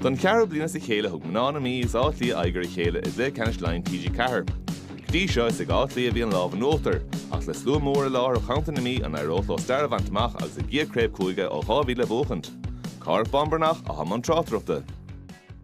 Don cheathrú bliain as a chéile thug mná na Mí agus Áth Cliath aghaidh ar a chéile i gcluiche ceannais Laighean TG4. Go dtí seo is ag Áth Cliath a bhí an lámh in uachtar, ach le slua mór i láthair ó cheantar na Mí an éireodh leo stair a bhaint amach agus a gcéad chraobh cúige ó 2000 a bhuachaint? Cárthach Bán Breathnach i mbun na tráchtaireachta.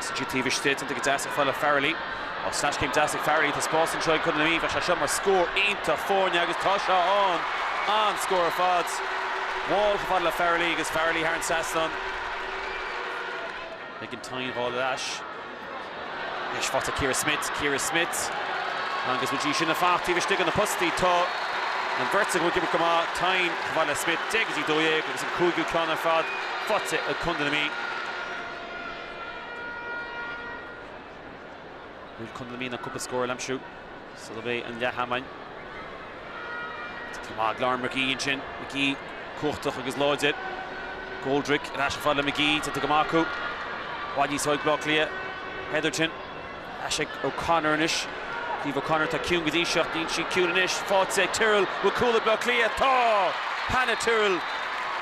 Sin taobh istigh, tiontaithe go deas ar fáil ag Farrelly. Tá sleaschéim deas ag Farrelly, tá spás anseo ag Contae na Mí, bheadh sé seo mar scór iontach foirne agus tá sé ann! An-scór ar fad. Wall chomh fada le Farrelly agus Farrelly thar an trasnán. Megan Thynne á fháil ar ais. Deis faighte ag Ciara Smyth, Ciara Smyth agus go dtí sin ag fanacht taobh istigh de na postaí, tá an bheirt acu ag imirt go maith, Thynne chomh fada le Smyth, 10-12 agus an cúigiú ceann ar fad faighte ag Contae na Mí. An bhfuil Contae na Mí in ann cúpla scór a aimsiú sula mbeidh an leath-am ann. Titithe go maith ag Lauren Magee ansin. Magee cumhachtach agus láidir. Goldrick ar ais chomh fada le Magee. Tá teacht go maith acu. Mná óga Bhaile Átha Cliath. Hetherton. ais ag O'Connor anois. Caoimhe O'Connor, tá ciúin go dtí seo, níl sí ciúin anois. Faighte ag Tyrrell, bhfuil cúl ag Baile Átha Cliath? Tá! Hannah Tyrrell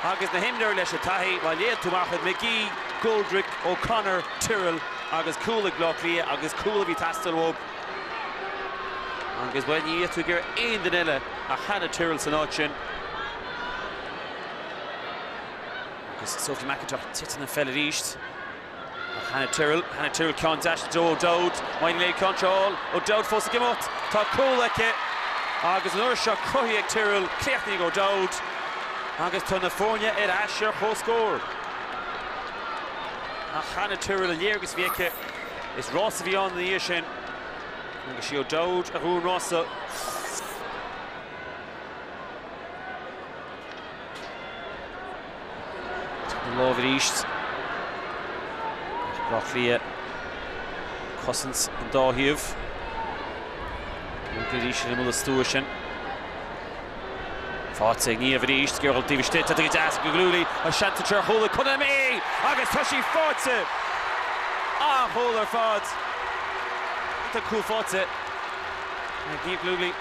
agus na himreoirí leis an taithí, má léann tú amach iad, Magee, Goldrick, O'Connor, Tyrrell agus cúl ag Baile Átha Cliath agus cúl a bhí ag teastáil uathu agus, bhuel, ní bheadh tú ag iarraidh aon duine eile ach Hannah Tyrrell san áit sin. Agus Sophie McIntosh, titeann an pheil arís. Ach Hannah Tyrrell, Hannah Tyrrell, ceann deas do O'Dowd, maidin inné contráil, O'Dowd fós ag imeacht, tá cúl aici agus an uair seo cothaithe ag Tyrrell, críochnaithe ag O'Dowd agus tá na foirne ar ais ar comhscór. Ach Hannah Tyrrell, an léargas a bhí aici, is rás a bhí ann ina dhiaidh sin agus sí O'Dowd a bhuaigh an rás. Tugtar an lámh arís ar Áth Cliath. Cosaint an dá thaobh. Bogtha arís ar imeall na stua sin. Faighte ag Niamh arís. Gearrtha taobh istigh. Tá go deas Gallogly. An seans é seo ar chúl ag Contae na Mí! Agus tá sí faighte! An-chúl ar fad. Tá cúl faighte ag Niamh Gallogly.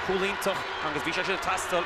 Cúl iontach agus bhí sé sin ag teastáil.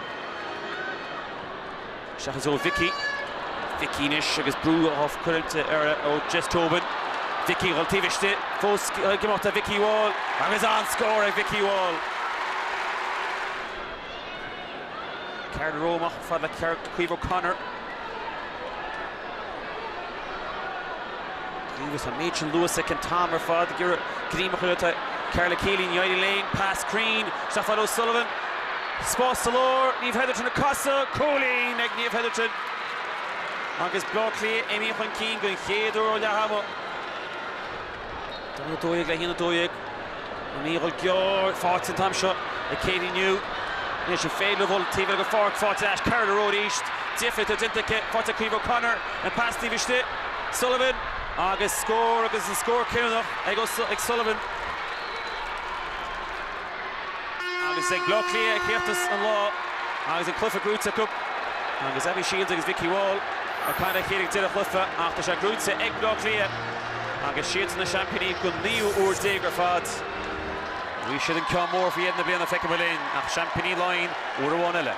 Seachas ó Mhicí. Mhicí anois agus brú á cuireadh ar ó Jess Tobin. Mhicí dhul taobh istigh. Fós ag imeacht le Mhicí Wall agus an-scór ag Mhicí Wall. Ceardlann Ró amach ar fad le ceart Caoimh O'Connor. Agus an méid sin luais acu an t-am ar fad ag iarraidh gníomh a chur atá Karla Kealy, ní éiríonn léi. Pas cruinn isteach fhad le Sullivan. Spás sa lár, Niamh Hetherton ag casadh. Cúilín ag Niamh Hetherton agus Bleá Cliath imithe chun cinn den chéad uair ó leath ama. Dó 12 le haon 12. Ag dul gearr faighte an t-am seo ag Katie New. Anois an féidir dul taobh eile den pháirc. Faighte ag Carla Rowe arís. Difear atá déanta aici. Faighte ag Caoimhe O'Connor. An pas taobh istigh. Sullivan agus scór agus an scór cinniúnach ag Sullivan. Agus ag Bleá Cliath a chríochnós an lá agus an cluiche gnóite acu agus Abby Shiels agus Vikki Wall ag caint le chéile ag deireadh an chluiche ach tá sé gnóite ag Bleá Cliath agus is iadsan na seaimpíní don naoú huair déag ar fad. An bhfaighidh siad an ceann mór faoi dheireadh na bliana feicfimid linn ach seaimpíní Laighean uair amháin eile.